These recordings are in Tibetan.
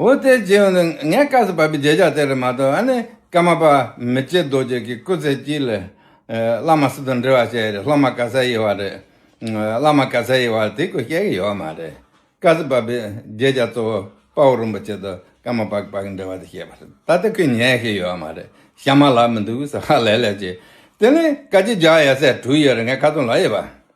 འོ་དེ་རྗེས་ཡོང་དུས་ངས་སྐབས་སུ་བབས་པའི་རྗེས་ཆགས་དེ་རེད་མ་གཏོགས་ཨ་ནི་ཀརྨ་པ་མི་བྱེད་རྡོ་རྗེ་གི་སྐུ་ཚེ་སྐྱིད་ལས། བླ་མ་སུ་དང་འབྲེལ་བ་བྱས་རེད་སློབ་མ་ག་ས་ཡི་བ་རེད། བླ་མ་ག་ས་ཡི་བ་དེ་སྐོར་བཤད་གི་ཡོད་མ་རེད། སྐབས་སུ་བབས་པའི་རྗེས་ཆགས་གཙོ་བོ་དཔའ་བོ་རིན་པོ་ཆེ་དང་ཀརྨ་པ་པ་གི་འབྲེལ་བ་དེ་བཤད་པ་རེད་ད་ལྟ་ཁོས་ཉན་ཤེས་ཡོད་མ་རེད་ཤ་མ་ལགས་མི་འདུག་ཟེར་ཧ་ལས་ལས་བྱས། དེ་ནི་བཀའ་སྤྱི་བརྒྱ་ཡས་ཚད་དྲུག་ཡོད་རེད་ངས་ཁ་ཚོན་ལ་ཡོད་པ།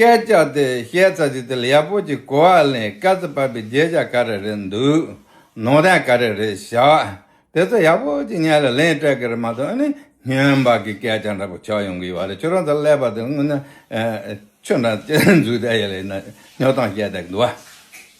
སྐད་ཆ་དེ་བཤད་ཚར་རྗེས་དེ་ལ་ཡག་པོ་ཅིག་གོ་བ་ལེན་དཀའ་ཚེ་བབས་པའི་བརྗེད་བྱ་ག་རེ་རེད་འདུག་ནོར་ལྡན་ག་རེ་རེད་བཞག་དེ་ཚོ་ཡག་པོ་ཅིག་ཉན་ལ་ལེན་སྤྲད་གི་རེད་མ་གཏོགས་ཨ་ནི་སྨྱོན་པ་གི་སྐད་ཆ་འདྲ་པོ་ཆགས་ཡོང་གི་ཡོད་བ་རེད་ཁྱོད་རང་ཚོ་ཀླད་པ་དེ་དངོས་ནས་ཆུ་འདྲ་ཅན་འཛུགས་བསྡད་ཡོད་ལ་ཡིན་ན་སྨྱོ་སྟངས་བཤད་བསྡད་ཀི་འདུག་བ།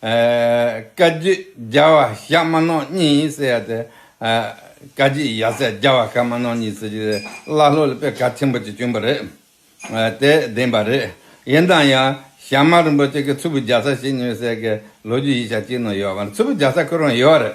བཀའ་བརྒྱུད་རྒྱལ་བ་ཞྭ་དམར་ནོར་གཉིས་ཟེར་ཡ་དེ། བཀའ་བརྒྱུད་ཡབ་སྲས་རྒྱལ་བ་ཞྭ་དམར་ནོར་གཉིས་ཟེར་རྒྱུ་དེ་བླ་སློབ་ལ་དཔེ་གལ་ཆེན་པོ་གཅིག་བྱུང་བ་རེད། དེ་བདེན་པ་རེད། ཡིན་དང་ཡང་ཞྭ་དམར་རིན་པོ་ཆེ་གི་ཚུར་བུ་རྒྱག་ས་ཞིག་ཉོས་ཟེར་གི་ལོ་རྒྱུས་ཡིག་ཆ་གཅིག་ནང་ཡོད་པ། ཚུར་བུ་རྒྱག་ས་ཁོ་རང་ཡོད་རེད།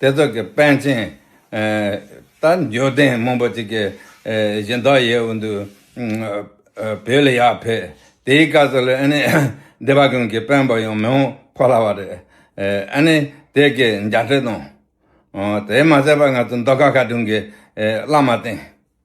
དེ་དག་གི་དཔལ་ཆེན། ད་འགྱོད་ལྡན་མང་པོ་ཅིག་གིས་གཞི་བདག་ཡས་འོད་འདུ་བོད་ལ་ཡར་ཕེབས། དེའི་སྐབས་སུ་ལ་ཨ་ནི་སྡེ་པ་ཀུན་གྱི་དཔོན་པོ་ཡང་མི་འོང་ཕོ་སླ་བ་རེད། ཨ་ནི་དེ་གའི་མཇལ་འཕྲད་དང། དེ་མ་ཟད་པར་ང་ཚོ་མདོ་ཁ་ཁ་སྒྲུང་གི་བླ་མ་བསྟེན།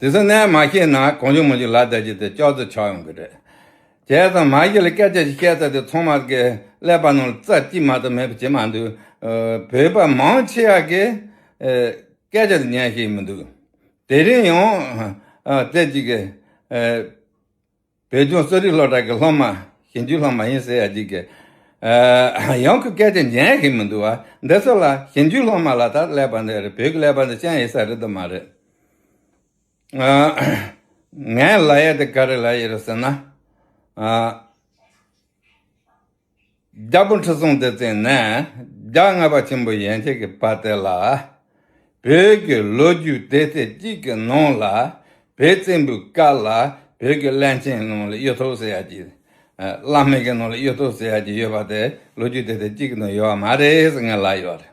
དེ་ཚོ་ནས་མ་ཤེས་ན་གང་བྱུང་མ་བྱུང་ལ་བསྡད་ཀྱི་དེ་ཅོག་ཙེ་ཆགས་ཡོང་གི་རེད། བྱས་ཙང་མ་གཞི་ལ་སྐད་ཆ་ཞིག་བཤད་ཚར་དུས་ཚང་མ་གི་ཀླད་པ་ནང་ལ་རྩ་གཅིག་མ་གཏོགས་མེད་པ་བྱེད་མ་འདུག་བོད་པ་མང་ཆེ་བ་གི་སྐད་ཆ་དེ་ཉན་ཤེས་མི་འདུག་དེ་རིང་ཡང་དེ་གཅིག་གི། བོད་ལྗོངས་གསོ་རིག་སློབ་གྲྭ་གྱི་སློབ་མ་ཞིབ་འཇུག་སློབ་མ་ཡིན་ཟེར་ཡ་གཅིག་གིས། ཡང་ཁོས་སྐད་ཆ་འཇལ་གི་མི་འདུག་བ། འདི་ཚོ་ལ་ཞིབ་འཇུག་སློབ་མ་ལ་དྭགས་ཀླད་པ་འདི་རེད་བོད་ཀྱི་ཀླད་པ་འདི་ཅན་ཡིན་ས་རེད་དུ་མ་རེད། ངའི་ལ་ཡ་དེ་ག་རེ་ལ་ཡ་རེད་ཟེར་ན། རྒྱལ་པོ་ཁྲི་སྲོང་ལྡེ་བཙན་ནས་རྒྱ་རྔ་པ་ཆེན་པོ་ཡན་ཆད་ཀྱི་བར་དེ་ལ། བོད་ཀྱི་ལོ་རྒྱུས་སྡེ་ཚན་གཅིག་གི་ནང་ལ་བོད་བཙན་པོའི་སྐབས་ལ་བོད་ཀྱི་བླ་ཆེན་ནང་ལ་གཡུ་ཐོག་ཟེར་ཡག་ཅིག། བླ་སྨན་གྱི་ནང་ལ་གཡུ་ཐོག་ཟེར་ཡག་ཅིག་ཡོད་པ་དེ་ལོ་རྒྱུས་སྡེ་ཚན་གཅིག་གི་ནང་ཡོད་པ་མ་རེད་ཟེར་ངེས་ལབ་ཡོད་རེད།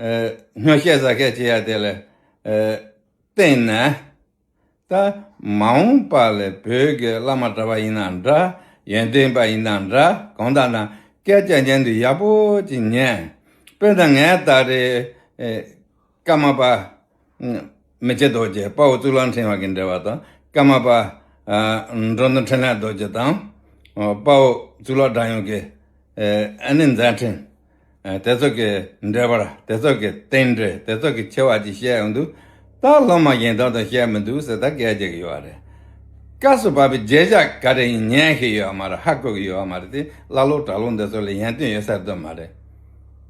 སྔོན་བཤད་གཟའ་སྐལ་ཅི་ཡང་དེ་ལ་བརྟེན་ནས་ད་མ་འོངས་པ་ལ་བོད་ཀྱི་བླ་མ་གྲྭ་པ་ཡིན་ན་འདྲ་ཡོན་ཏན་པ་ཡིན་ན་འདྲ་གང་དག་ན་སྐད་ཆ་ཉན་དུ་ཡག་པོ་ཅིག་ཉན། དཔེར་ན་ངའི་ད་རེས་ཀརྨ་པ། མི་ཆེ་རྡོ་རྗེ་དཔའ་བོ་གཙུག་ལག་འཕྲེང་བ་གིས་འབྲེལ་བ་དང་ཀརྨ་པ། འགྲོ་འདུལ་འཕྲིན་ལས་རྡོ་རྗེ་དང། དཔའ་བོ་གཙུག་ལག་སྒྲ་ཡངས་ཀྱི་ཨ་ནི་མཛད་འཕྲིན། དེ་ཚོ་གི་འགྲེལ་པར་དེ་ཚོ་གི་རྟེན་འབྲེལ་དེ་ཚོ་གི་ཆེ་བ་ཅིག་བཤད་འོང་དུས། ད་སློབ་མ་གཞན་དག་དང་བཤད་མི་འདུག་ཟེར་ད་གས་བྱེད་ཀྱི་ཡོད་རེད། སྐབས་སུ་བབ་པའི་རྗེས་ཆ་ག་རེ་ཡིན་ཉན་ཤེས་ཡོད་མ་རེད་ཧ་གོ་གི་ཡོད་མ་རེད་དེ་ཀླ་ཀློ་གྲྭ་ཀློ་འདི་ཚོ་ལ་ཡན་ཏན་ཡོད་ས་སྡོད་མ་རེད།